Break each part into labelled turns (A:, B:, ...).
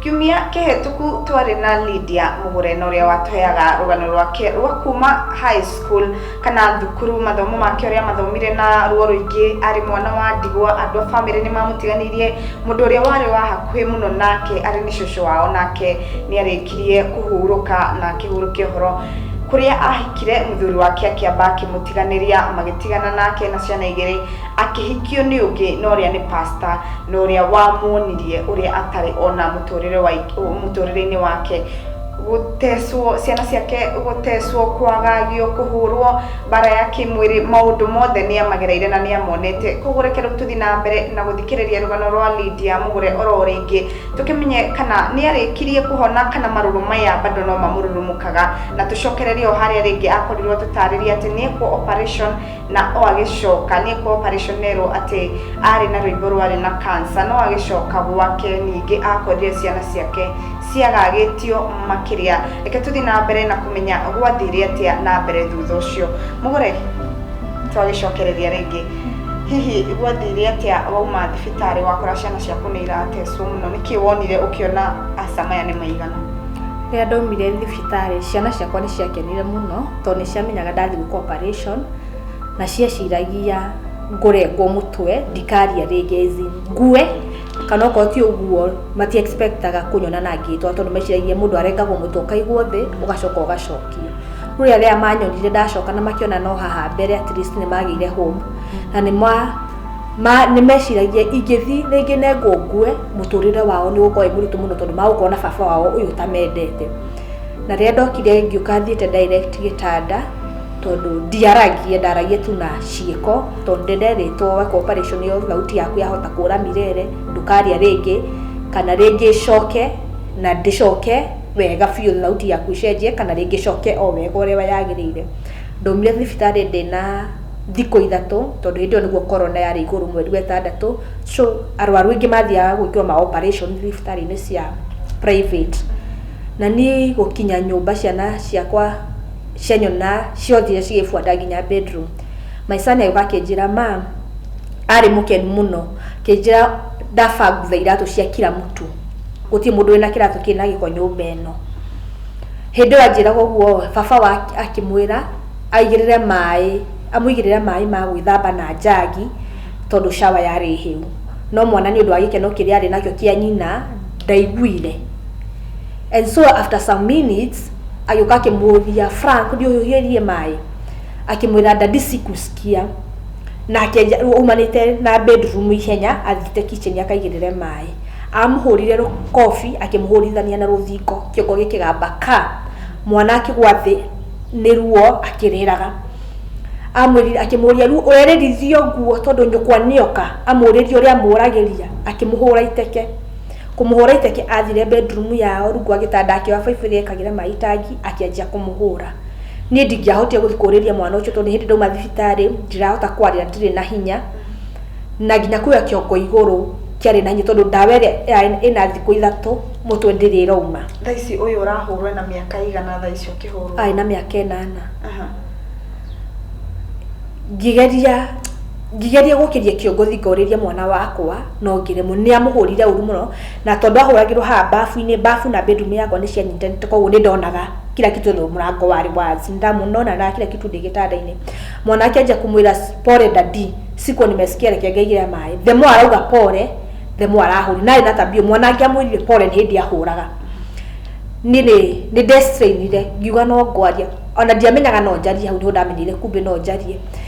A: Kiumia kĩhĩtũku twarĩ na Lydia Mũgũrena ũrĩa watũheaga rũgano rwake rwa kuma high school kana thukuru, mathomo make ũrĩa mathomire na ruo rũingĩ, arĩ mwana wa ndigwa, andũ a bamĩrĩ nĩ mamũtiganĩirie, mũndũ ũrĩa warĩ wa hakuhĩ mũno nake arĩ nĩ cũcũ wao nake nĩ arĩkirie kũhurũka na akĩhurũkia ũhoro kũrĩa ahikire mũthuri wake akĩamba akĩmũtiganĩria, magĩtigana nake na ciana igĩrĩ. Akĩhikio nĩ ũngĩ na ũrĩa nĩ pasta na ũrĩa wamuonirie ũrĩa atarĩ ona mũtũrĩre wa mũtũrĩre-inĩ wake gũtecwo ciana ciake gũtecwo kwagagio kũhũrwo mbara ya kĩmwĩrĩ maũndũ mothe nĩ amagereire na nĩ amonete koguo reke rĩu tũthiĩ na mbere na gũthikĩrĩria rũgano rwa Lydia Mũgũre oro rĩngĩ tũkĩmenye kana nĩ arĩkirie kũhona kana marũrũ maya bado no mamũrurumũkaga na tũcokererie o harĩa rĩngĩ akorirwo tũtarĩria atĩ nĩ ekwo operation na o agĩcoka nĩ kwa operation erwo atĩ arĩ na rwĩmbo rwarĩ na kansa no agĩcoka gwake ningĩ akorire ciana ciake ciagagĩtio makĩria reke tũthiĩ na mbere na kũmenya gwathire atĩa na mbere thutha ũcio mũgũre twagĩcokereria rĩngĩ hihi gwathire atĩa wauma thibitarĩ wakora ciana ciaku nĩ iratecwo mũno nĩkĩ wonire ũkĩona aca maya nĩ maigana rĩrĩa ndaumire
B: thibitarĩ ciana ciakwa nĩ ciakenire mũno tondũ nĩ ciamenyaga ndathiĩ gwĩka operation na cieciragia ngũrengwo mũtwe ndikaria rĩngĩ as in ngue kana okorwo ti ũguo mati expectaga kũnyona na ngĩtwa tondũ meciragia mũndũ arengagwo mũtwe ũkaigwo thĩ ũgacoka ũgacokio. No rĩrĩa manyonire ndacoka na makĩona no haha mbere at least nĩ magĩire hope na nĩ ma ma nĩ meciragia ingĩthiĩ rĩngĩ nengwo ngue mũtũrĩre wao nĩ ũgũkorwo wĩ mũritũ mũno tondũ magũkorwo na baba wao ũyũ ũtamendete. na rĩrĩa ndokire ngĩũka thiĩte direct gĩtanda tondũ ndiaragia ndaragia tu na ciĩko tondũ ndenderĩtwo weka operation ĩyo thauti yaku yahota kũra mirere ndũkaria rĩngĩ kana rĩngĩ coke na ndĩcoke wega biũ thauti yaku ĩcenjie kana rĩngĩ coke o wega ũrĩa yagĩrĩire ndaumire thibitarĩ ndĩna thikũ ithatũ tondũ hĩndĩ ĩyo nĩguo corona yarĩ igũrũ mweri wetandatũ so arwaru aingĩ mathiaga gwĩkĩrwo ma operation thibitarĩ-inĩ cia private. Na niĩ gũkinya nyũmba ciana ciakwa cianyona ciothiire cigĩbuata nginya bedroom. My son agĩũka akĩnjĩra, Mum, arĩ mũkenu mũno, akĩnjĩra ndaba ngutha iratũ cia kira mtu, gũtirĩ mũndũ wĩna kĩratũ kĩrĩ na gĩko nyũmba ĩno. Hĩndĩ ĩyo anjĩraga ũguo, baba akĩmwĩra aigĩrĩre maĩ, amũigĩrĩre maĩ ma gwĩthamba na njagi tondũ shower yarĩ hĩu. No mwana nĩ ũndũ wa gĩkeno kĩrĩa arĩ nakĩo kĩa nyina ndaiguire. and so after some minutes agĩũka akĩmũria frank thiĩ ũhiũhĩrie maĩ akĩmwĩra ndadi sikusikia nake nja- aumanĩte na bedroom ihenya athiĩte kitchen akaigĩrĩre maĩ amũhũrire rũ- kobi akĩmũhũrithania na rũthingo kĩongo gĩkĩgamba ka mwana akĩgwa thĩ nĩ ruo akĩrĩraga amwĩrire akĩmũria rĩu ũrerĩrithio nguo tondũ nyũkwa nĩoka amũrĩrie ũrĩa amũragĩria akĩmũhũra iteke Kũmũhũra iteke athire bedroom yao rungu wa gĩtanda akĩoya baibũ ĩrĩa yekagĩra maĩ itangi akĩanjia kũmũhũra. Niĩ ndingĩahotire gũthiĩ kũrĩria mwana ũcio tondũ hĩndĩ ndauma thibitarĩ ndirahota kwarĩra ndirĩ na hinya, na nginya kuoya kĩongo igũrũ kĩarĩ na hinya tondũ ndawa ĩrĩa yarĩ ĩna thikũ ithatũ mũtwe ndĩrĩ ĩrauma. Thaa ici ũyũ
A: ũrahũrwo ena mĩaka ĩigana thaa ici ũkĩhũrwo? Arĩ na mĩaka ĩnana.
B: Ngĩgeria. Ngĩgeria gũkĩria kĩongo Thika ũrĩrie mwana wakwa, no ngĩremwo. Nĩ amũhũrire ũru mũno, na tondũ ahũragĩrwo haha babu-inĩ, babu na bedroom yakwa nĩ cianyitanĩte kwoguo nĩ ndonaga kila kitu though mũrango warĩ wazi. Nĩ ndamũonaga kila kitu ndĩ gĩtanda-inĩ. Mwana akĩanjia kũmwĩra pole daddy, sikuwa nimesikia reke ngaigĩre maĩ. The more arauga pole, the more arahũrire. Na arĩ na tabia ĩyo, mwana angĩamwĩrire pole nĩ hĩndĩ ahũraga. Niĩ nĩ, nĩ nde strainire, ngiuga no ngwaria. O na ndiamenyaga no njarie hau nĩho ndamenyire kumbe no njarie.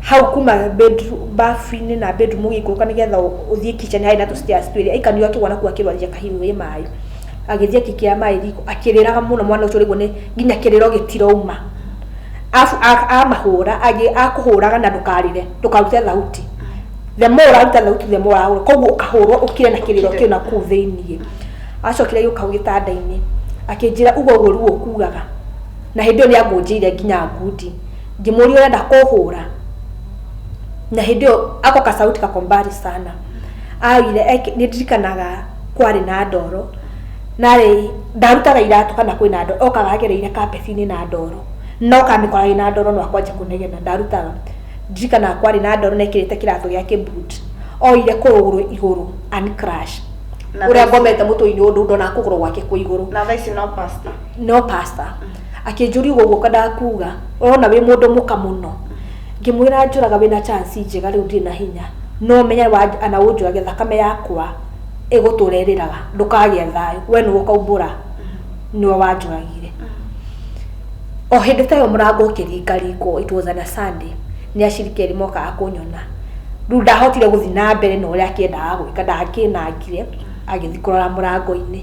B: hau kuma bafu-inĩ na bedroom ũgĩikũrũka nĩgetha ũthiĩ kitchen harĩ na tũ stairs twĩrĩ aika nĩwe akĩgwa nakuo akĩrwarire kahiũ ĩ maĩ, agĩthiĩ agĩkĩra maĩ riko akĩrĩraga mũno mwana ũcio ũrĩrwo nĩ nginya kĩrĩro gĩtirauma, arabu amahũra akũhũraga na ndũkarĩre ndũkarute thauti, the more ũraruta thauti the more arahũrwo kwoguo ũkahũrwo ũkire na kĩrĩro kĩu nakũu thĩiniĩ, acokire agĩũka hau gĩtanda-inĩ akĩnjĩra uga ũguo ruo ũkugaga na hĩndĩ ĩyo nĩ angũnjĩire nginya ngundi. ngĩmũria ũrenda kũhũra na hĩndĩ ĩyo ako kasauti kako mbali sana augire eki- nĩ ndirikanaga kwarĩ na ndoro narĩ ndarutaga iratũ kana kwĩ na ndoro okaga agereire kabecinĩ na ndoro no kamĩkora ĩ na ndoro no akwanja kũnegena ndarutaga ndirikanaga kwarĩ na ndoro na ekĩrĩte kĩratũ gĩake boot oire kũrũgũrũ igũrũ and crash Na ũrĩa thaici- ngomete mũtwe-inĩ ũndũ ndonaga kũgũrũ gwake kwĩ igũrũ na thaa ici no pasta
A: no
B: pasta akĩnjũriuga ũguo ndakuga ũrona wĩ mũndũ mũka mũno ngĩmwĩra njũraga wĩna chance njega rĩu ndirĩ na hinya no menye ana ũnjũrage thakame yakwa ĩgũtũra ĩrĩraga ndũkagĩa thayũ we nĩwe ũkaumbũra nĩwe wanjũragire o hĩndĩ ta ĩyo mũrango ũkĩringaringwo it was on a Sunday nĩ acirikeri mokaga kũnyona rĩu ndahotire gũthiĩ na mbere na ũrĩa akĩendaga gwĩka ndakĩnangire agĩthiĩ kũrora mũrango-inĩ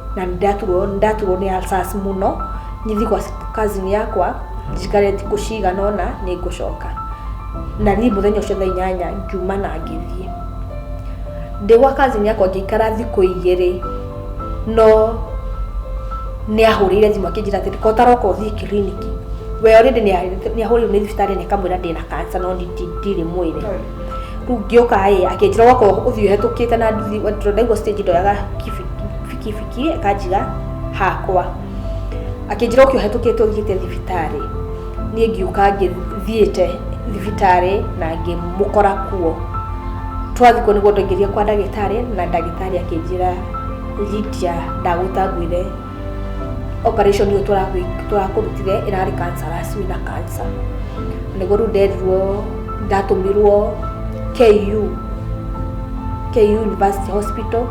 B: na ndaturwo ndaturwo nĩ alsas mũno nyithi kwa cousin yakwa njikare thikũ cigana ũna nĩ ngũcoka na niĩ mũthenya ũcio thaa inyanya ngiuma na ngĩthiĩ ndĩ gwa cousin yakwa ngĩikara thikũ igĩrĩ no nä ahå rä ire thimå akä njä ra atä ko taroka å thiä kiriniki we rä ndä nä ahå rä irwo nä thibitarä na kamwä ra ndä na kansa no ndirä mwä re rĩu ngĩũka ĩ akĩnjĩra wako ũthiũ hetũkĩte na nduthi tondũ ndaigua stage ndoyaga kibikibiki akanjiga hakwa akĩnjĩra ũkĩ ũhetũkĩte ũthiĩte thibitarĩ niĩ ngiũka ngĩthiĩte thibitarĩ na ngĩmũkora kuo twathikwo nĩguo ndaingĩria kwa ndagĩtarĩ na ndagĩtarĩ akĩnjĩra Lydia ndagũtangwire operation ĩyo tũragwĩ- tũrakũrutire ĩrarĩ cancer racu na cancer nĩguo rĩu nderirwo ndatũmirwo KU KU University Hospital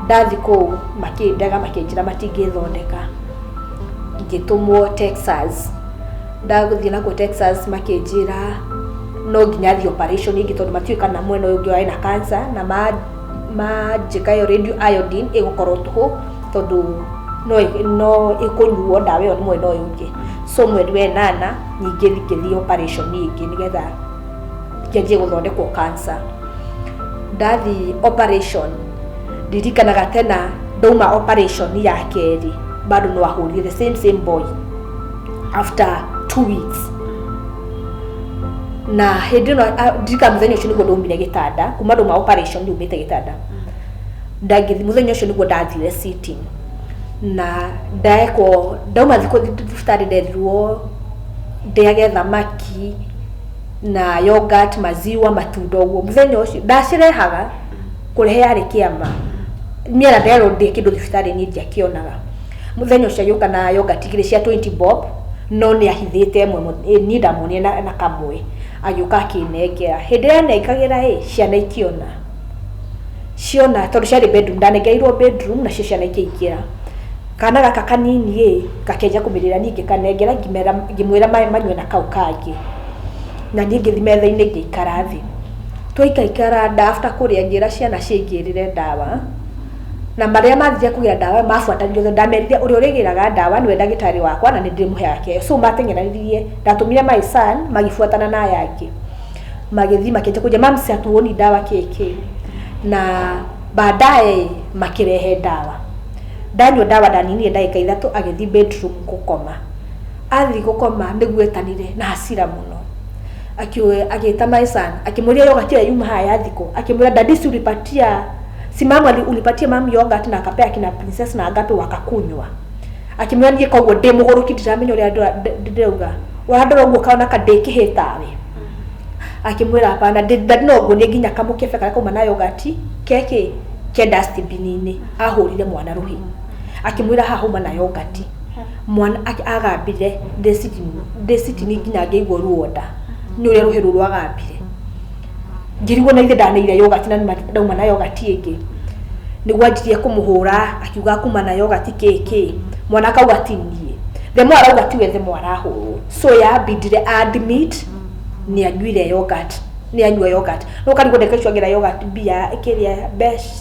B: ndathi kũu makĩndega makĩnjĩra matingĩthondeka ngĩtũmwo Texas ndagũthiĩ nakuo Texas makĩnjĩra no nginya thiĩ operation ĩngĩ tondũ matiũĩ kana mwena ũyũ ũngĩ warĩ na cancer na ma manjĩka yo radio iodine ĩgũkorwo tũhũ tondũ no ĩ- no ĩkũnyuo ndawa ĩyo rĩmwe no yũke so mweri wenana nyingĩ ngĩthiĩ operation ĩngĩ nĩgetha ngĩanjie gũthondekwo cancer ndathi operation ndirikanaga tena ndauma operation ya kerĩ bado no ahũrire the same same boy after two weeks na hĩndĩ ĩno ndirika mũthenya ũcio nĩguo ndaumire gĩtanda kuma ndå ma operation ndaumĩte gĩtanda ndangĩthi mũthenya ũcio nĩguo ndathire sitting na ndekwo ndauma thikå thibitarä ndethirwo ndäage thamaki na yogurt maziwa matunda å guo må thenya å cio ndacirehaga kå rehe yarä kä ama niä na nderwo ndä kä ndå thibitarä niä ndiakä onaga Mũthenya ũcio agĩũka na yogati igĩrĩ cia twenty bob, no nĩ ahithĩte ĩmwe niĩ ndamuonire na na kamwe. Agĩũka akĩnengera. Hĩndĩ ĩrĩa anengagĩra ĩ, ciana ikĩona. Ciona tondũ ciarĩ bedroom, ndanengereirwo bedroom nacio ciana ikĩingĩra. Kana gaka kanini ĩ, gakĩanjia kũmĩrĩra niĩ ngĩkanengera ngĩmera ngĩmwĩra maĩ manyue na kau kangĩ. Na niĩ ngĩthi metha-inĩ ngĩikara thĩ. Twaikaikara nda after kũrĩa ngĩra ciana cingĩrĩre ndawa. na marĩa mathiire kũgĩra ndawa mabuatanirio tondũ ndamerire ũrĩa ũrĩgĩraga ndawa nĩwe ndagĩtarĩ wakwa na nĩ ndĩrĩmũheaga kĩyo so mateng'eranirie ndatũmire my son magĩbuatana na aya angĩ magĩthiĩ makĩnjia kũnjia mams hatuoni ndawa kĩĩ kĩĩ na baadaye makĩrehe ndawa ndanyua ndawa ndaninire ndagĩka ithatũ agĩthiĩ bedroom gũkoma athiĩ gũkoma nĩguo etanire na hasira mũno Akioya agĩta my son akĩmũria yogurt ĩyo yuma haya ya thiko akĩmwĩra daddy si ulipatia si mama ali- ulipatia mam yogurt na akapea kina princess na agape wakakunywa akĩmwĩra niĩ koguo ndĩ mũgũrũki ndiramenya ũrĩa ndĩra- ndĩ- ndĩ- ndĩrauga ũrandora ũguo kaona ka ndĩ kĩhĩ tawe akĩmwĩra hapana ndĩ- daddy no nguonie nginya kamũkebe karĩa kauma na yogurt keki ke dustbin-inĩ ahũrire mwana rũhi akĩmwĩra haha uma na yogati mwana ak- agambire ndecitini- ndecitini nginya ngĩigua ruo nda nĩ ũrĩa rũhĩ rũu rwagambire ngĩrigwo na ithe ndaneire yogati na nĩma ndauma na yogati ĩngĩ nĩguo anjirie kũmũhũra akiuga kuma na yogati kĩkĩ mwana akauga ti niĩ the more arauga ti wethe mo arahũrwo so yabindire admit nĩ anyuire yogati nĩ anyua yogati no karigwo ndeka icio angĩra yogati mbia kĩrĩa mbeca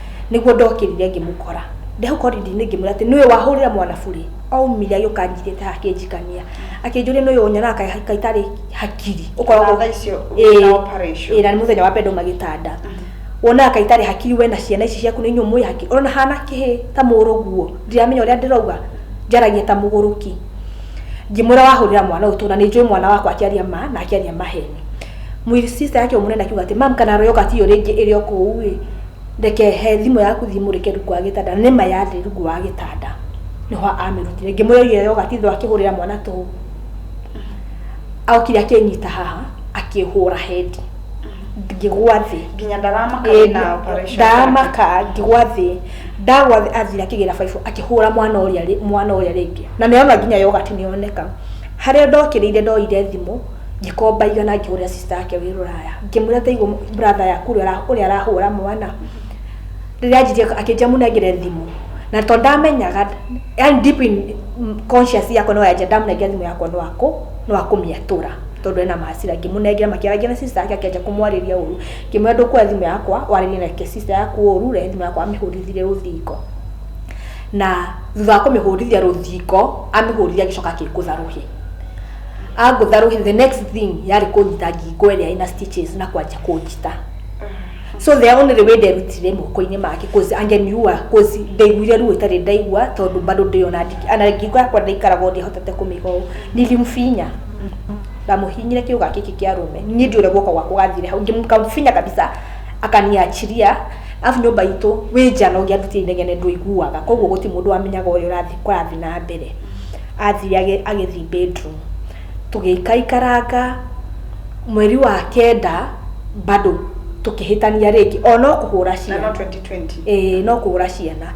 B: nĩguo ndokĩrire ngĩmũkora ndeho koridinĩ ngĩmwĩra atĩ nĩwe wahũrĩra mwana burĩ aumire agĩũka anjirĩte haha akĩnjikania akĩnjũria nĩwe ũnyona kaitarĩ hakiri ũkoragwo Thaa icio
A: Ĩĩ, wĩna operation. ĩĩ, na nĩ mũthenya wa mbere ndauma
B: gĩtanda wonaga kaitarĩ hakiri we na ciana ici ciaku nĩ inyuĩ mũĩ hakiri ona hana kĩhĩ ta mũrũguo ndiramenya ũrĩa ndĩrauga njaragia ta mũgũrũki ngĩmwĩra wahũrĩra mwana ũyũ tũna nĩ njũĩ mwana wakwa akĩaria ma na akĩaria maheni Mwĩri sister yake ũmũnene akiuga atĩ mam kana royoka tiyo rĩngĩ ĩrĩ o kũu ĩ reke he thimũ yaku thiĩ mũrĩke rungu wa gĩtanda nĩ ma yarĩ rungu wa gĩtanda nĩho amĩrutire ngĩmũria iyo yoga tithũ akĩhũrĩra mwana tũhũ aokire akĩnyita haha akĩhũra hendi ngĩgwa thĩ nginya ndaramaka
A: Ĩĩ, na operation ndaramaka ngĩgwa
B: thĩ ndagwa thĩ athire akĩgĩra baibũ akĩhũra mwana ũrĩa rĩ- mwana ũrĩa rĩngĩ na nĩona nginya yogati nĩyoneka harĩa ndokĩrĩire ndoire thimũ ngikomba igana ngihurira sister yake wi ruraya ngimwira taigu brother yaku uria arahura mwana riria anjirie akinjia munengere thimu na to ndamenyaga yani deep in conscious yakwa no yanja ndamunengera thimu yakwa no aku no akumiatura tondu ena macira ngimunengera makiaragia na sister yake akinjia kumwariria uru ngimwira ndukuoya thimu yakwa waririe na sister yaku uru rehe thimu yakwa amihurithire ruthingo na thutha wa kumihurithia ruthingo amihurithia agicoka agikuthara uhe angũtha rũhĩ the next thing yarĩ kũnyita ngingo ĩrĩa ĩna stitches na kwanjia kũnjita so the only way nderutire moko-inĩ make cause angeniua cause ndaiguire ruo itarĩ ndaigua tondũ bado ndĩona ndiki- ana ngingo yakwa ndaikaraga ũndũ hotete kũmĩiga ũũ nilimfinya ndamuhinyire kiuga kiki kia rume ni ndiure guoko gwa kugathire hau ngimkamfinya kabisa akaniachiria afu nyumba itu wi njano ngiarutia inegene ndwiguaga koguo guti mundu wamenyaga uria urathi kurathi na mbere athiage agĩthiĩ bedroom. Tũgĩikaikaranga mweri wa kenda bado tũkĩhĩtania rĩngĩ o no kũhũra ciana ĩĩ
A: no kũhũra ciana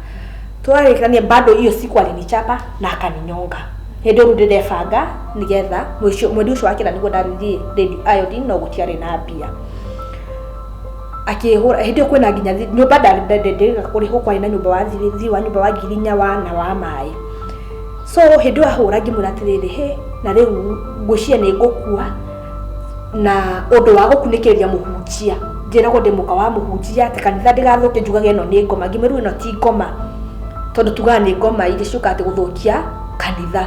B: twarĩkania bado hiyo siku alinichapa na akaninyonga hĩndĩ ĩyo rĩu ndĩrebanga nĩgetha mweri ũcio wa kenda nĩguo ndarĩrire iodine no gũtiarĩ na mbia. akĩhũra hĩndĩ ĩyo kwĩna nginya thi- nyũmba ndandendendega kũrĩhwo kwarĩ na nyũmba wa thiri thiri wa nyũmba wa ngiri inya wa na wa maĩ so hĩndĩ ĩyo ahũra ngĩmwĩra atĩrĩrĩ hĩ na rĩu ngwĩciria nĩ ngũkua na ũndũ wa gũkunĩkĩrĩria mũhunjia njĩragwo ndĩ mũka wa mũhunjia atĩ kanitha ndĩgathũke njugage ĩno nĩ ngoma ngĩmwĩrwo ĩno ti ngoma tondũ tugaga nĩ ngoma iria ciũkaga atĩ gũthũkia kanitha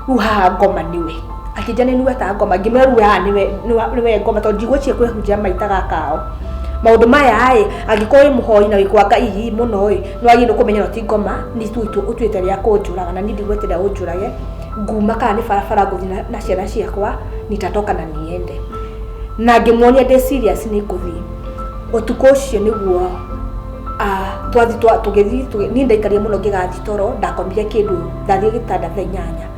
B: rĩu haha ngoma nĩwe akĩnja nĩ nuweta ngoma ngĩmwerua haha nĩwe ngoma tondũ ndigwĩcie kwĩhunjia maita gakao maundu maya ri angikorwo wi muhoi na wikwa ngai muno ri ni wagiriire kumenya no ti ngoma ni tu utuite ria kunjuraga na ni ndigweterera unjurage nguma kana ni barabara nguthi na ciana ciakwa nitatoka na niende na ngimuonia ndi serious ni nguthi utuku ucio niguo twathi tugithii ni ndaikarire muno ngigathi toro ndakomire kindu ndathire gitanda thaa inyanya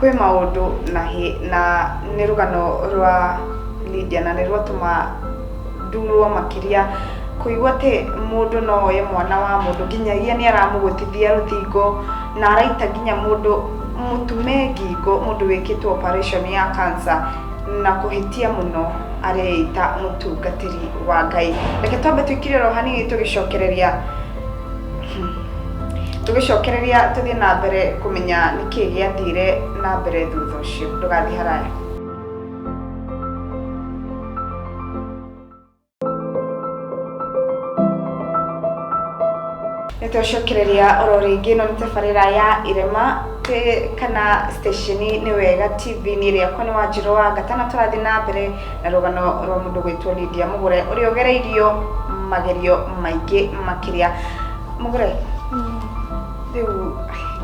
A: kwĩ maũndũ na, hĩ- na nĩ rũgano rwa Lydia na nĩ rwatũma ndurwo makĩria kũigua atĩ mũndũ no oye mwana wa mũndũ nginyagia nĩ aramũgũtithia rũthingo na araita nginya mũndũ mũtume ngingo mũndũ wĩkĩtwo operation ya cancer na kũhĩtia mũno areita mũtungatĩri wa Ngai. Reke twambe tũikire oro hanini tũgĩcokereria tũgĩcokereria tũthiĩ na mbere kũmenya nĩkĩ gĩathire na mbere thutha ũcio ndũgathiĩ haraya nĩ twacokereria oro rĩngĩ no nĩ tabarĩra ya irema kana stesheni nĩ wega tv-inĩ rĩakwa nĩ wanjirũ wanga tana tũrathiĩ na mbere na rũgano rwa mũndũ gwĩtwo Lydia Mũgũre ũrĩa ũgereirio magerio maingĩ makĩria Mũgũre rĩu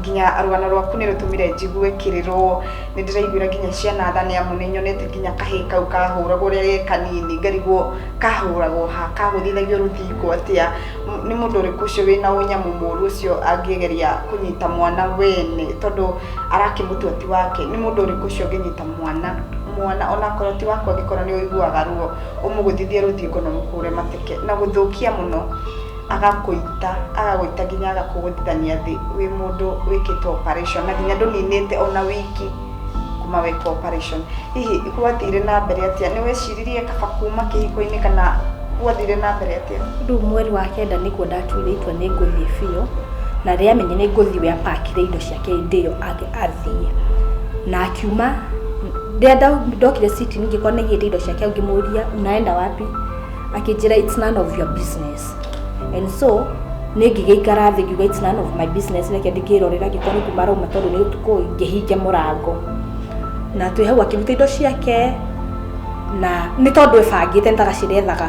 A: nginya rũgano rwaku nĩ rũtũmire njigue kĩrĩrwo nĩ ndĩraiguĩra nginya ciana tha nĩ amu nĩ nyonete nginya kahĩ kau kahũragwo ũrĩa ge kanini ngarigwo kahũragwo ha kagũthithagio rũthingo atĩa M- nĩ mũndũ ũrĩkũ ũcio wĩna ũnyamũ mũru ũcio angĩgeria kũnyita mwana wene tondũ arakĩmũtua ti wake nĩ mũndũ ũrĩkũ ũcio ũngĩnyita mwana mwana onakorwo ti wakwa angĩkorwo nĩ ũiguaga ruo ũmũgũthithie rũthingo na ũmũhũre mateke na gũthũkia mũno agakũita agagũita nginya agakũgũthithania thĩ wĩ mũndũ wĩkĩtwo operation na nginya ndũninĩte ona wiki kuma wĩkwo operation hihi gwathire na mbere atĩa nĩ weciririe kaba kuma kĩhiko-inĩ kana gwathire na mbere atĩa rĩu mweri wa
B: kenda nĩkuo ndatuire itua nĩ ngũthiĩ biũ na rĩamenya nĩ ngũthiĩ we apakire indo ciake hĩndĩ ĩyo athiĩ na akiuma rĩrĩa ndokire citi ngĩkora nĩgĩte indo ciake ngĩmũria unaenda wapi akĩnjĩra it's none of your business and so nĩ ngĩgĩikara thĩ ngiuga it's none of my business reke ndĩkĩrorera ngĩkora nĩ kuma arauma tondũ nĩ ũtukũ ngĩhinge mũrango na twĩ hau akĩruta indo ciake na nĩ tondũ ebangĩte nĩ tagacĩrethaga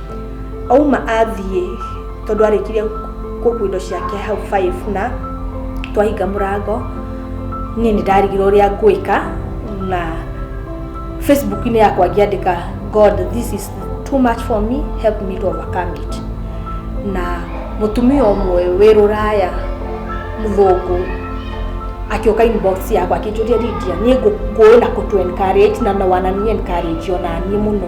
B: auma athiĩ tondũ arĩkirie kũkua indo ciake hau five na twahinga mũrango niĩ nĩ ndarigirwo ũrĩa ngwĩka na facebook-inĩ yakwa ngĩandĩka god this is too much for me help me to overcome it na mũtumia ũmwe wĩ rũraya mũthũngũ akĩũka inbox yakwa akĩnjũria Lydia niĩ ngũkũĩ na kũtũ encourage na no wanani encourage ona niĩ mũno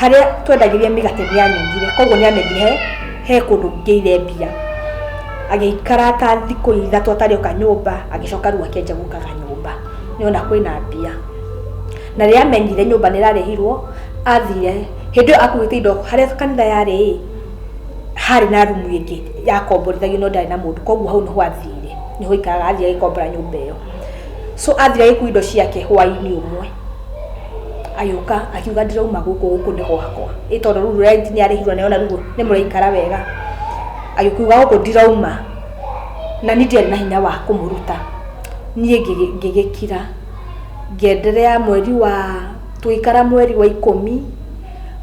B: harĩa twendagĩria mĩgate nĩ anyugire koguo nĩ amenyire he he kũndũ ngĩire mbia agĩikara ta thikũ ithatũ atarĩ oka nyũmba agĩcoka rĩu akĩanjia gũkaga nyũmba nĩ ona kwĩna mbia na rĩrĩa amenyire nyũmba nĩ ĩrarĩhirwo athire hĩndĩ ĩyo akuĩte indo harĩa kanitha yarĩ ĩ harĩ na rumu ĩngĩ yakomborithagio no ndarĩ na mũndũ koguo hau nĩho athire nĩho aikaraga athiĩ agĩkombora nyũmba ĩyo so athire agĩkua indo ciake hwainĩ ũmwe Agĩũka akiuga ndirauma gũkũ, gũkũ nĩ gwakwa. Ĩ tondũ rĩu rent nĩ arĩhirwo nĩ ona rĩu nĩ mũraikara wega? Agĩkiuga gũkũ ndirauma, na niĩ ndiarĩ na hinya wa kũmũruta. Niĩ ngĩgĩkira, ngĩ endelea mweri wa, tũgĩikara mweri wa ikũmi,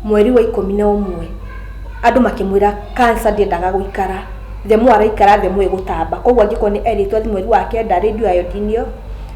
B: mweri wa ikũmi na ũmwe, andũ makĩmwĩra cancer ndĩendaga gũikara, the more araikara the more ĩgũtamba. Kwoguo angĩkorwo nĩ erĩtwo athiĩ mweri wa kenda rĩu ndiũĩ irondiinio.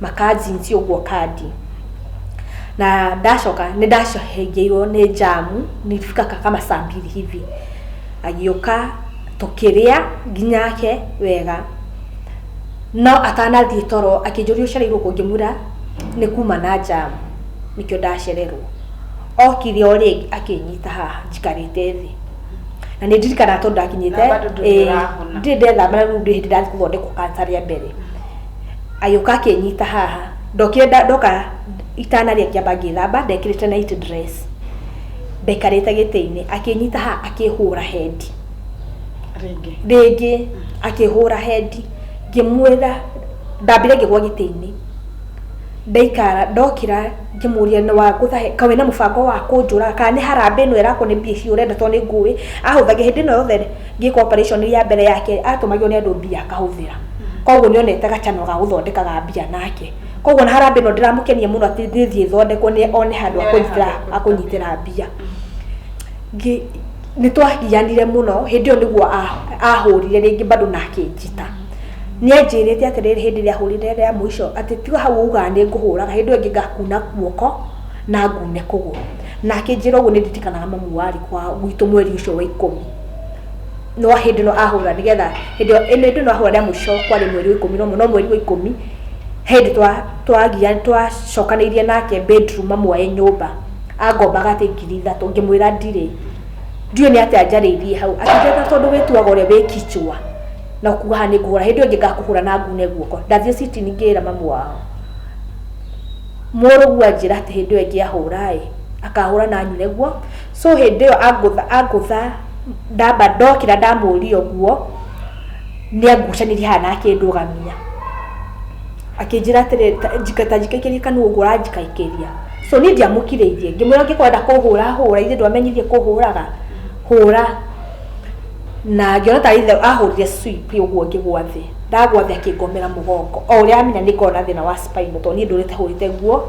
B: makajinsi ũguo kandi na ndacoka nĩ ndacohengeirwo nĩ jamu nilifika kama saa mbili hivi agĩũka tũkĩrĩa nginya ake wega no atanathiĩ toro akĩnjũria ũcereirwo kũ ngĩmwĩra nĩ kuma na jamu nĩkĩo ndacererwo okire o rĩngĩ akĩnyita haha njikarĩte thĩ na nĩ ndirikanaga tondũ ndakinyĩte Na bado ndũrĩ eh, ũrahona. ndirĩ ndethamba na rĩu ndĩ hĩndĩ ndathiĩ gũthondekwo kanca rĩa mbere agĩũka akĩnyita haha ndokire nda- ndoka itanarĩa ngĩamba ngĩthamba ndekĩrĩte night dress ndaikarĩte gĩtĩ-inĩ akĩnyita haha akĩhũra hendi rĩngĩ rĩngĩ akĩhũra hendi ngĩmwĩra ndambire ngĩgwa gĩtĩ-inĩ ndaikara ndokĩra ngĩmũria nĩ wangũtha he ka wĩna mũbango wa kũnjũraga kana nĩ harambĩ ĩno ĩrakwo nĩ mbia ici ũrenda tondũ nĩ ngũĩ ahũthagia hĩndĩ ĩno yothe ngĩka operation ya mbere yake atũmagio nĩ andũ mbia akahũthĩra koguo nĩ onete gacano ga gũthondeka ga mbia nake koguo na harambĩ no ndĩramũkenia mũno atĩ ndĩthiĩ thondekwo nĩ one handũ Nĩ one akũnyitĩra handũ akũnyitĩra mbia Ngĩ- nĩ twagianire mũno hĩndĩ ĩyo nĩguo ah- ahũrire rĩngĩ bado na akĩnjita nĩ anjĩrĩte atĩrĩrĩ hĩndĩ ĩrĩa ahũrire rĩa mũico atĩ tiga hau ugaga nĩ ngũhũraga hĩndĩ ĩyo ĩngĩ ngakuna guoko na ngune kũgũrũ na akĩnjĩra ũguo nĩ nditikanaga mamu warĩ kwa gwitũ mweri ũcio wa ikũmi no hĩndĩ no ahũra nĩ getha hĩndĩ ĩyo ĩno ĩndĩ no ahũra rĩa mũico kwarĩ mweri wa ikũmi na ũmwe no mweri wa ikũmi hĩndĩ twa twagia twacokanĩirie nake bedroom amuoe nyũmba angombaga atĩ ngiri ithatũ ngĩmwĩra ndirĩ ndiũĩ nĩ atĩa njarĩirie hau akĩnjĩra tondũ wĩtuaga ũrĩa wĩ kichwa na kuga haha nĩ ngũhũra hĩndĩ ĩyo ĩngĩ ngakũhũra na ngune guoko ndathiĩ citini ngĩra mamu wao mũrũguo anjĩra atĩ hĩndĩ ĩyo ĩngĩ ahũra ĩ akahũra na anyune guo so hĩndĩ ĩyo angũtha angũtha ndamba ndokĩra ndamũria ũguo nĩangucanirie haha na akĩndũgamia akĩnjĩra atĩrĩ ta- njika- ta njikaikĩrie kanua ũguo ũranjikaikĩria so niĩ ndiamũkirĩirie ngĩmwĩra ũngĩkwenda kũhũra hũra ithe ndwamenyirie kũhũraga hũra na ngĩona ta ithe ahũrire swipi ũguo ngĩgwa thĩ ndagwa thĩ akĩngomera mũgongo o ũrĩa amenya nĩ ngoragwo na thĩna wa spinal tondũ niĩ ndũrĩte hũrĩte nguo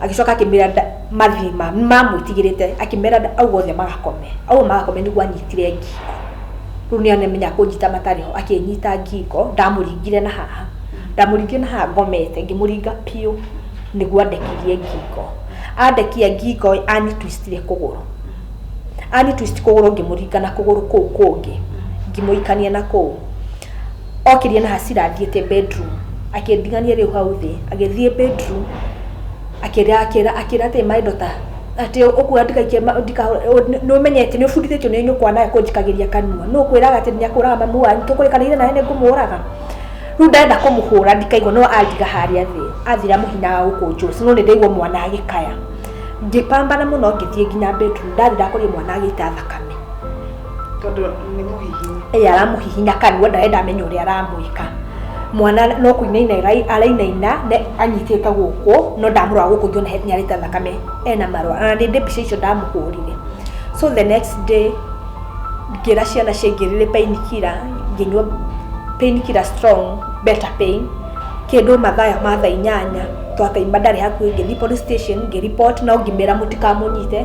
B: agĩcoka akĩmera mathi mamwĩtigĩrĩte akĩmera auga othe magakome au magakome nĩguo anyitire ngingo rĩu nĩ amenya kũnyita matarĩ ho akĩnyita ngingo ndamũringire na haha ndamũringire na haha ngomete ngĩmũringa biũ nĩguo andekirie ngingo andekia ngingo ani twistire kũgũrũ ani twist kũgũrũ ngĩmũringa na kũgũrũ kũu kũngĩ ngĩmũikania na kũu Okirie na hasira athiĩte bedroom, akĩndigania rĩu hau thĩ, agĩthiĩ bedroom, akĩra akĩra akĩra atĩ my daughter atĩ ũkũga ndikaikie ma ndika nĩũmenyete nĩũbundithĩtio nĩ nyũkwa nawe kũnjikagĩria kanua, nũ ũkwĩraga atĩ nĩakũraga mamu wanyu, tũkũrĩkanĩire nawe nĩngũmũraga? Rĩu ndarenda kũmũhũra ndikaigwe no andiga harĩa thĩ, athira mũhina wa gũkũnjũra, sino nĩndaigua mwana agĩkaya, ngĩ pambana mũno ngĩthiĩ nginya bedroom ndathira akoria mwana agĩita thakame. tondũ
A: nĩ mũhihinyi ĩĩ aramũhihinya kanua
B: ndarenda amenye ũrĩa aramwĩka mwana no kũinaina arai- arainaina ne- anyitĩte gũkũ no ndamũrora gũkũ ngĩona he- nĩarĩte thakame ena marũa na nĩndĩ mbica icio ndamũhũrire so the next day ngĩra ciana ciaingĩrĩre pain killer ngĩnyua pain killer strong better pain kĩndũ mathaya ma thaa inyanya twakaima ndarĩ hakuhĩ ngĩthiĩ police station ngĩ report no ngĩmera mũtikamũnyite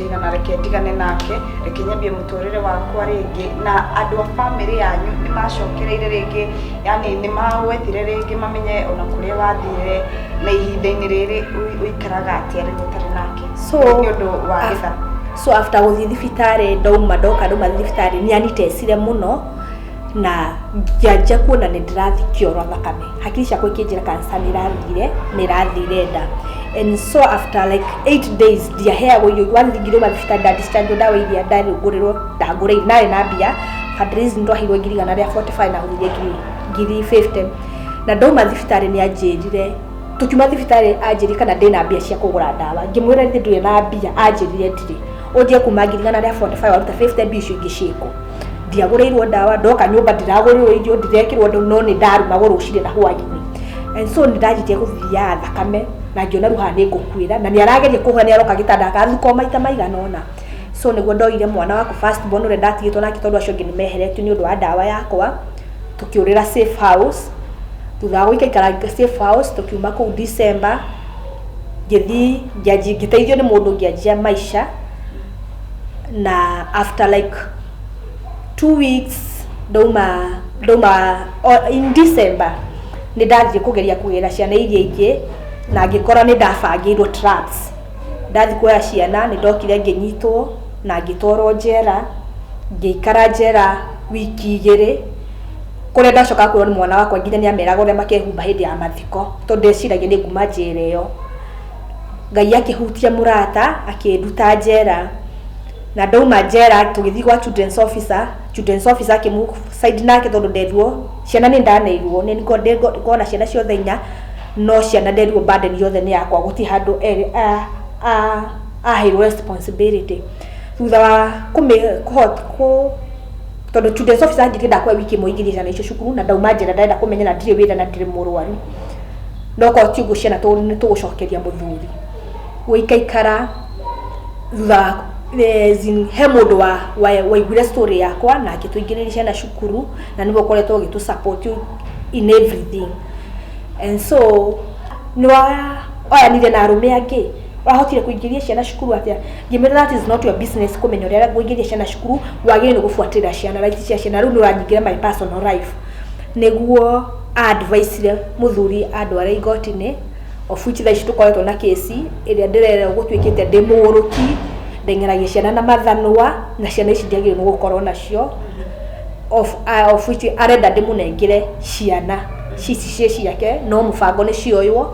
A: Ndĩna na reke ndigane nake, reke nyambie mũtũrĩre wakwa rĩngĩ, na andũ a bamĩrĩ yanyu nĩ macokereire rĩngĩ, yani nĩ magwetire rĩngĩ mamenye ona kũrĩa wathire, na ihinda-inĩ rĩrĩ ũi- ũikaraga atĩa rĩu ũtarĩ nake? So, nĩ ũndũ wa ah, gĩtha. so after
B: gũthiĩ thibitarĩ ndauma ndoka ndauma
A: thibitarĩ
B: nĩ anyitecire mũno na ngĩanjia kuona nĩ ndĩrathikio oro thakame hakiri ciakwa ikĩnjĩra kansa nĩ ĩrathire na ĩrathire nda and so after like eight days ndiaheagwo irio wanthingire uma thibitarĩ ndadistanjwo ndawa iria ndarũngũrĩrwo ndangũrĩire narĩ na mbia fundraising ndwaheirwo ngiri igana rĩa 45 na gũthiria ngiri ngiri 50 na ndauma thibitarĩ nĩ anjĩrire tũkiuma thibitarĩ anjĩrire kana ndĩ na mbia cia kũgũra ndawa ngĩmwĩra nĩ ndũrĩ na mbia anjĩrire ndirĩ ũnjie kuma ngirigana rĩa 45 waruta 50 mbia icio ingĩ ciĩko ndiagũrĩirwo ndawa ndoka nyũmba ndiragũrĩrwo irio ndirekĩrwo ndũ no nĩ ndarumagwo rũcinĩ na hwainĩ and so nĩ ndanyitia gũthiaga thakame na ngĩona rũha nĩ ngũkuĩra na nĩ arageria kũhũra nĩ aroka gĩtanda akathukwo maita maigana ona so nĩguo ndoire mwana wakwa first born ũrĩa ndatigĩtwo nake tondũ acio angĩ nĩ meheretio nĩ ũndũ wa ndawa yakwa tũkĩũrĩra safe house thutha wa gũikaikara safe house tũkiuma kũu December ngĩthiĩ ngĩanjia ngĩteithio nĩ mũndũ ngĩanjia Maisha, na after like two weeks ndauma ndauma o in December nĩ ndathiĩ kũgeria kũgĩra ciana iria ingĩ, na ngĩkora nĩ ndabangĩirwo traps. Ndathiĩ kuoya ciana nĩ ndokire ngĩnyitwo na ngĩtwarwo njera, ngĩikara njera wiki igĩrĩ. Kũrĩa ndacokaga kwĩrwo nĩ mwana wakwa nginya nĩ ameraga ũrĩa makehumba hĩndĩ ya mathiko, tondũ ndeciragia nĩ nguma njera ĩyo. Ngai akĩhutia mũrata, akĩnduta njera. Na ndauma njera, tũgĩthiĩ gwa children's officer, children's officer akĩ move side nake tondũ nderirwo, ciana nĩ ndaneirwo, nĩ ngoragwo na ciana ciothe inya, no ciana nderirwo burden yothe nĩ yakwa, gũtirĩ handũ aheirwo responsibility. Thutha wa kũhota kũ... tondå Tudes officer anjĩtie ndakwa wiki ĩmwe ingĩthiĩ ciana icio cukuru na ndauma njĩra ndarenda kũmenya na ndirĩ wĩra na ndirĩ mũrwaru no korwo ti ũguo ciana tũ- nĩ tũgũcokeria mũthuri gũikaikara thutha wa- eh, zin- he mũndũ wa- wa- waiguire story yakwa na akĩtũingĩrĩria ciana cukuru na nĩwe ũkoretwo ũgĩtũ support in everything and so nĩwa oyanire na arũme angĩ ũrahotire kũingĩria ciana cukuru atĩa ngĩmĩra that is not your business kũmenya ũrĩa ngũingĩria ciana cukuru wagĩrĩirwo gũbuatĩrĩra ciana rights cia ciana rĩu nĩ ũranyingĩra my personal life nĩguo advice mũthuri andware igoti-inĩ of which thaa ici tũkoretwo na kĩsi ĩrĩa ndĩrerwo gũtuĩkĩte ndĩ mũgũrũki ndeng'eragia ciana na mathanwa na ciana ici ndiagĩrĩirwo nĩ gũkorwo nacio of, uh, of which arenda ndĩmũnengere ciana cici ciĩ ciake no mũbango nĩ cioywo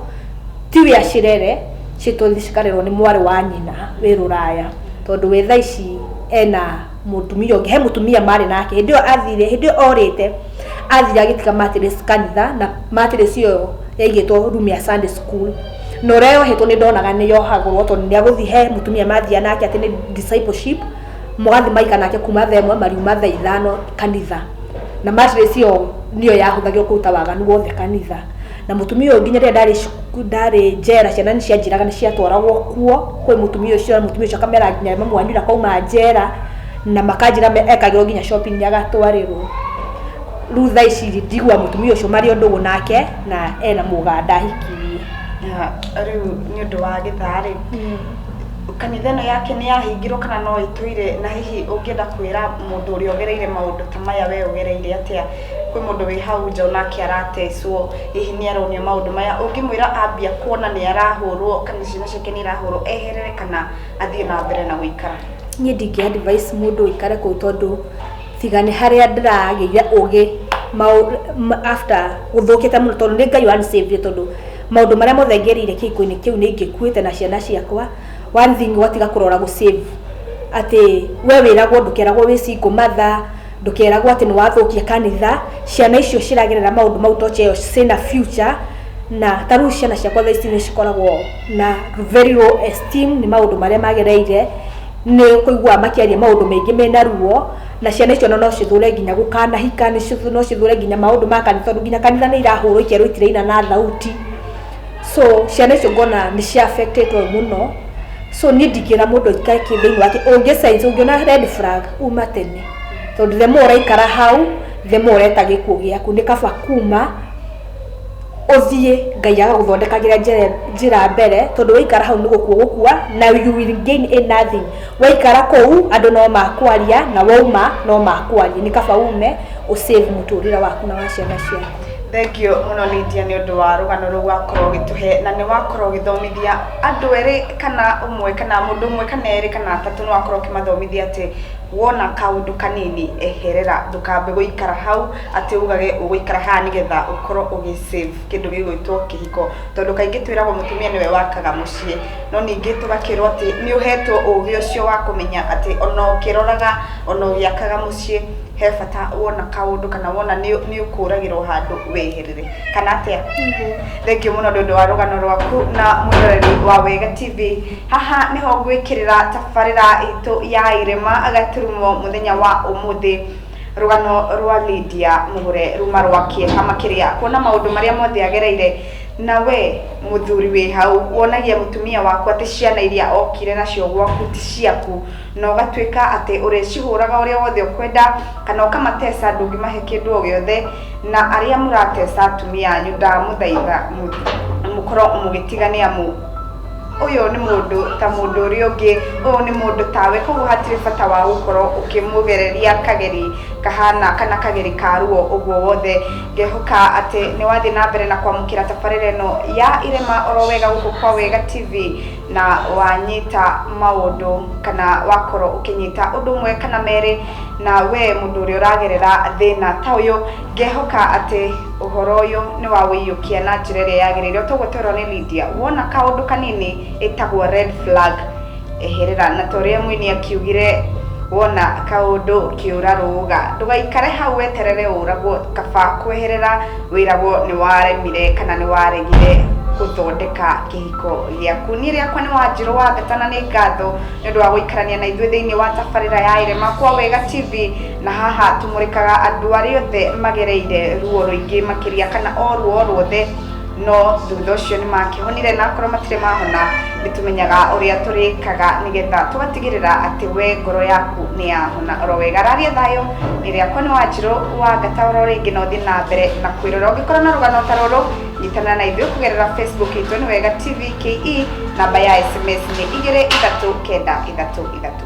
B: Ti wĩ acirere, citũthi cikarerwo nĩ mwarĩ wa nyina wĩ rũraya, tondũ we thaa ici ena mũtumia ũngĩ, he mũtumia marĩ nake, hĩndĩ ĩyo athire, hĩndĩ ĩyo orĩte, athire agĩtiga mattress kanitha, na mattress ĩyo yaigĩtwo room ya Sunday school, na ũrĩa yohetwo nĩ ndonaga nĩ yohagũrwo tondũ nĩ agũthiĩ he mũtumia mathiaga nake atĩ nĩ discipleship, magathiĩ magaikara nake kuuma thaa ĩmwe mariuma thaa ithano kanitha, na mattress ĩyo nĩyo yahũthagĩrwo kũruta waganu wothe kanitha. Na mutumia ũyũ nginya rĩrĩa ndarĩ cuku- ndarĩ njera ciana nĩ cianjĩraga nĩ ciatwaragwo kuo kwĩ mutumia ũcio na mutumia ũcio akamera nginya mamu wanyu ũrĩa akauma njera na makanjĩra me- ekagĩrwo nginya shopping nĩ agatwarĩrwo. Rĩu thaa ici rĩ ndigua mutumia ũcio marĩ o ndũgũ nake na ena mũganda ahikirie. Na rĩu
A: nĩ ũndũ wa gĩthaa rĩ kanitha ĩno yake nĩ yahingirwo kana no ĩtũire na hihi ũngĩenda kwĩra mũndũ ũrĩa ũgereire maũndũ ta maya we ũgereire atĩa kwĩ mũndũ wĩ hau nja onake aratecwo hihi nĩ aronio maũndũ maya ũngĩmwĩra ambia kuona nĩ arahũrwo kana ciana ciake nĩ irahũrwo eherere kana athiĩ na mbere na gũikara niĩ ndingĩ advice
B: mũndũ ũikare kũu tondũ tiga nĩ harĩa ndĩragĩire ũgĩ mau- ma- after gũthũkĩte mũno tondũ nĩ ngai wanisavire tondũ maũndũ marĩa mothe ngerĩire kĩhiko-inĩ kĩu nĩ ingĩkuĩte na ciana ciakwa one thing ũgatiga kũrora gũsave atĩ we wĩragwo ndũkeragwo wĩ single mother ndũkeragwo atĩ nĩ wathũkia kanitha ciana icio ciragerera maũndũ mau toche ĩyo cina future na tarĩu ciana ciakwa thaa ici nĩ cikoragwo na very low esteem nĩ maũndũ marĩa magereire nĩ kũigua makĩaria maũndũ maingĩ mena ruo na ciana icio no no cithũre nginya gũkanahika nĩ cithu- no cithũre nginya maũndũ ma kanitha tondũ nginya kanitha nĩ irahũrwo ikerwo itiraina na thauti so ciana icio ngona nĩ cia affectetwo mũno so niĩ ndingĩra mũndũ aikare kĩ thĩinĩ wake ũngĩ sense ũngĩona red flag uma tene tondũ the more ũraikara hau the more ũreta gĩkuũ gĩaku nĩ kaba kuma ũthiĩ ngai agagũthondekagĩra njĩra- njĩra mbere tondũ waikara hau nĩ gũkua gũkua na you will gain in nothing waikara kũu andũ no makwaria na wauma no makwaria nĩ kaba ume ũ save mũtũrĩre waku na wa ciana ciaku Thengio mũno
A: Lydia nĩ ũndũ wa rũgano rũu wakorwo ũgĩtũhe na nĩ wakorwo ũgĩthomithia andũ erĩ kana ũmwe kana mũndũ ũmwe kana erĩ kana atatũ nĩ wakorwo ũkĩmathomithia atĩ wona kaũndũ kanini eherera ndũkambe gũikara hau atĩ ugage ũgũikara haha nĩgetha ũkorwo ũgĩ save kĩndũ gĩgwĩtwo kĩhiko tondũ kaingĩ twĩragwo mũtumia nĩwe wakaga mũciĩ no ningĩ tũgakĩrwo atĩ nĩ ũhetwo ũgĩ ũcio wa kũmenya atĩ ona ũkĩroraga ona ũgĩakaga mũciĩ he bata wona kaũndũ kana wona nĩ ũkũragĩrwo handũ weherere kana atĩa thengio mũno nĩ ũndũ wa rũgano rwaku na mũroreri wa wega tv haha nĩho ngwĩkĩrĩra tabarĩra itũ ya irema gaturumo mũthenya wa ũmũthĩ rũgano rwa Lydia mũgũre ruma rwa kĩeha makĩria kuona maũndũ marĩa mothe agereire na we mũthuri wĩ hau wonagia mũtumia waku atĩ ciana iria okire nacio gwaku ti ciaku na ũgatuĩka atĩ ũrĩcihũraga ũrĩa wothe ũkwenda kana ũkamateca ndũngĩmahe kĩndũ o gĩothe na arĩa mũrateca atumia anyu ndamũthaitha mũkorwo mũgĩtiga nĩ amu ũyũ nĩ mũndũ ta mũndũ ũrĩa ũngĩ ũyũ nĩ mũndũ tawe koguo hatirĩ bata wa gũkorwo ũkĩmũgereria kageri kahana kana kageri ka ruo ũguo wothe ngehoka atĩ nĩ wathiĩ na mbere na kwamũkĩra tabarĩra ĩno ya irema oro wega gũkũ kwa wega tv na wanyita maũndũ kana wakorwo ũkĩnyita ũndũ ũmwe kana merĩ na we mũndũ ũrĩa ũragerera thĩna ta ũyũ ngehoka atĩ ũhoro ũyũ nĩ wa wĩiyũkia na njĩra ĩrĩa yagĩrĩire ũtoguo twerwo nĩ Lydia wona kaũndũ kanini ĩtagwo red flag eherera na ta ũrĩa mũini akiugire wona kaũndũ kĩũra rũga ndũgaikare hau weterere ũragwo kaba kweherera wĩragwo nĩ waremire kana nĩ waregire gũthondeka kĩhiko gĩaku niĩ rĩakwa nĩ wanjirũ wa theta na nĩ ngatho nĩ ũndũ wa gũikarania na ithuĩ thĩinĩ wa tabarĩra ya irema kwa wega tv na haha tũmũrĩkaga andũ arĩa othe magereire ruo rũingĩ makĩria kana o ruo o ruothe no thutha ũcio nĩ makĩhonire na akorwo matirĩ mahona nĩ tũmenyaga ũrĩa tũrĩkaga nĩgetha tũgatigĩrĩra atĩ we ngoro yaku nĩ yahona oro wega raria thayũ nĩ rĩakwa nĩ wanjirũ wa ngataũra o rĩngĩ na ũthiĩ na mbere na kwĩrora ũngĩkorwo na rũgano ta rũrũ nyitana na ithuĩ kũgerera facebook itũ nĩ wega tv ke namba ya sms nĩ igĩrĩ ithatũ kenda ithatũ ithatũ